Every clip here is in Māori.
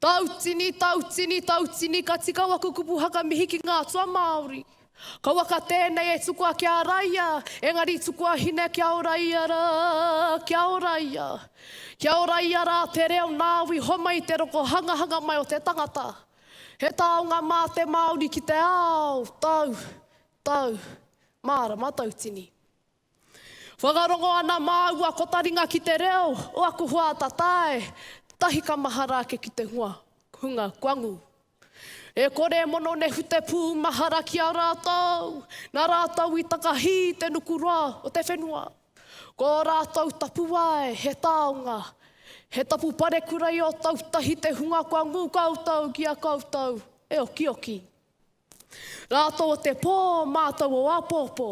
Tautini, tautini, tautini, ka tika waku kupu haka mihi ki ngā atua Māori. Kauaka tēnei e tukua ki a Raia, engari tukua hine kia ora ia rā, kia ora ia. Kia ora ia rā te reo nāu i homai i te roko hangahanga mai o te tangata. He taonga mā te Māori ki te ao, tau, tau, mārama tautini. Whakarongo ana māua ko taringa ki te reo o aku hoa atatae, tahi ka mahara ake ki te hunga, hunga kuangu. E kore e mono nehu te pū mahara ki a rātou, na rātou i takahī te nuku roa o te whenua. Ko ō rātou tapuwae he taonga, he tapu parekura i ō tau tahi te hunga kua ngū koutou ki a koutou e okioki. Rā tō te pō mātou o āpōpō,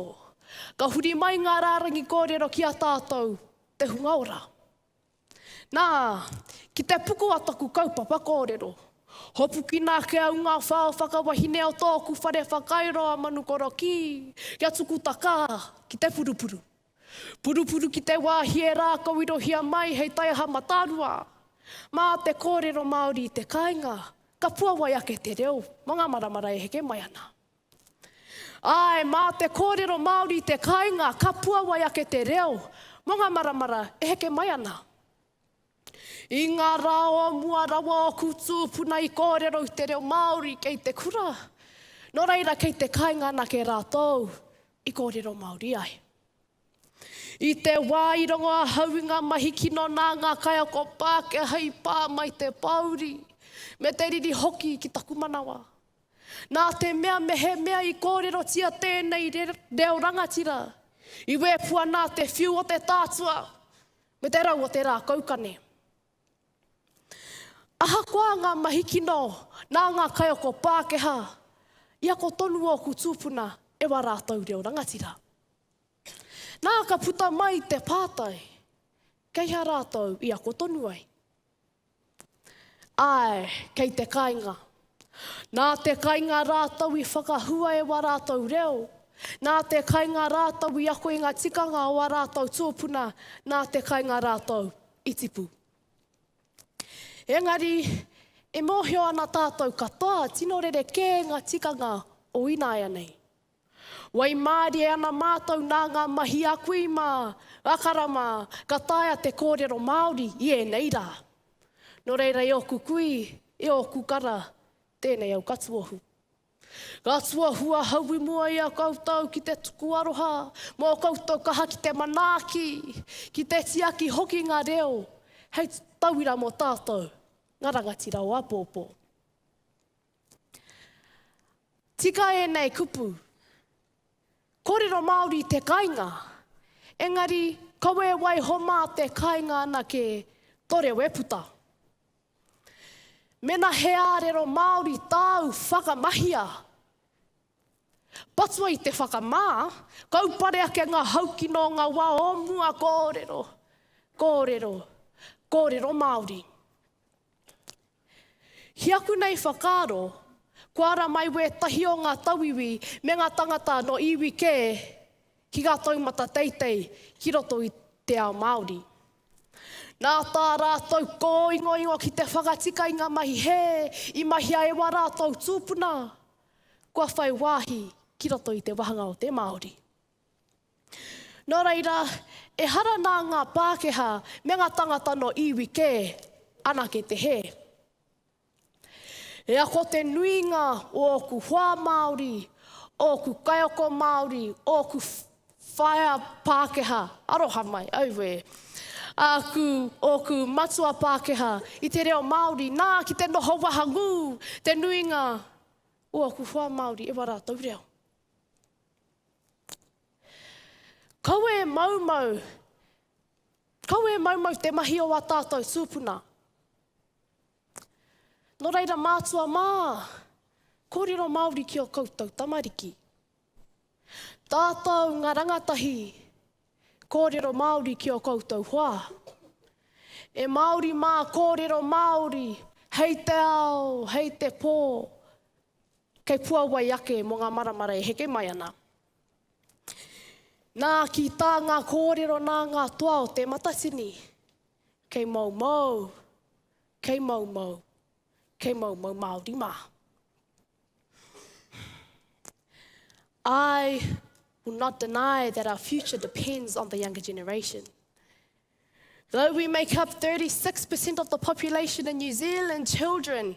ka huri mai ngā rārangi kōrero ki a tātou, te hunga ora. Nā, ki te puku a taku kaupapa kōrero, hopukina ake au ngā whao whakawahine o tōku whare whakairo a Manukorokī kia tuku takā ki te purupuru. Purupuru ki te wāhi e rākauirohia mai hei taiaha matarua. Mā te kōrero Māori i te kāinga, ka puawai ake te reo mō ngā maramara e heke mai ana. Āe, mā te kōrero Māori i te kāinga, ka puawai ake te reo mō ngā maramara e heke mai ana. I ngā rā o mua rawa ōku tūpuna i kōrero i te reo Māori kei te kura, nō reira kei te kāinga anake rātou i kōrero Māori ai. I te wā i rongo ahau i ngā mahi kino nā ngā kaiako Pākehā i pā mai te pōuri, me te riri hoki ki taku manawa. Nā te mea mehemea i kōrerotia tēnei reo rangatira, i wēpua nā te whiu o te tātua, Me te rau o te rā kaukane. Ahakoa ngā mahi kino nā ngā kaiako Pākehā, i ako tonu ōku tūpuna e wā rātou reo rangatira. Nā ka puta mai te pātai, kei hea rātou i ako tonu ai? Āe, kei te kainga. Nā te kainga rātou i whakahua e wā rātou reo, nā te kainga rātou i ako i ngā tikanga o ā rātou tōpuna, nā te kainga rātou i tipu. Engari, e mōhio ana tātou katoa tino rerekē ngā tikanga o ināianei. Waimarie ana mātou nā ngā mahi a kui mā, a kara mā, ka taea te kōrero Māori i ēnei rā. Nō reira e ōku kui, e ōku kara, tēnei au ka tuohu. Ka tuohu ahau i mua i a koutou ki te tuku aroha mō koutou kaha ki te manaaki, ki te tiaki hoki ngā reo hei tauira mō tātou, ngā rangatira o āpōpō. Tika ēnei kupu. Kōrero Māori te kainga, engari kawe waiho mā te kainga anake to reo e puta. Mena he ārero Māori tāu whakamahia, patua i te whakamā, kaupare ake ngā haukino o ngā wā o mua kōrero, kōrero, kōrero Māori. Ki aku nei whakaaro, kua ara mai wētahi o ngā tauiwi me ngā tangata nō iwi kē ki ngā taumata teitei ki roto i te ao Māori. Nā tā rātou kōingoingo ki te whakatika i ngā mahi hē i mahia e wā rātou tūpuna, kua whai wāhi ki roto i te wāhanga o te Māori. Nō reira, ehara nā ngā Pākehā me ngā tāngata nō iwi kē anake te hē. E ako te nuinga o ōku hoa Māori, ōku kaiako Māori, ōku whaea Pākehā, aroha mai, auē, āku, ōku matua Pākehā i te reo Māori, nā, ki te noho wahangū te nuinga o ōku hoa Māori e wā rātou reo. Kawe maumau Kawe maumau te mahi o a tātou tūpuna. Nō reira mātua mā, kōrero Māori ki o koutou tamariki. Tātou ngā rangatahi, kōrero Māori ki o koutou hoa. E Māori mā, kōrero Māori, hei te ao, hei te pō, Kei puawai ake mō ngā maramara e heke mai ana. Nā, ki tā ngā kōrero nā ngā toa o Te Matatini, kei moumou, kei moumou, kei moumou Māori mā. I will not deny that our future depends on the younger generation. Though we make up 36% of the population in New Zealand, children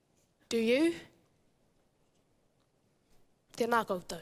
Do you? Tēnā koutou.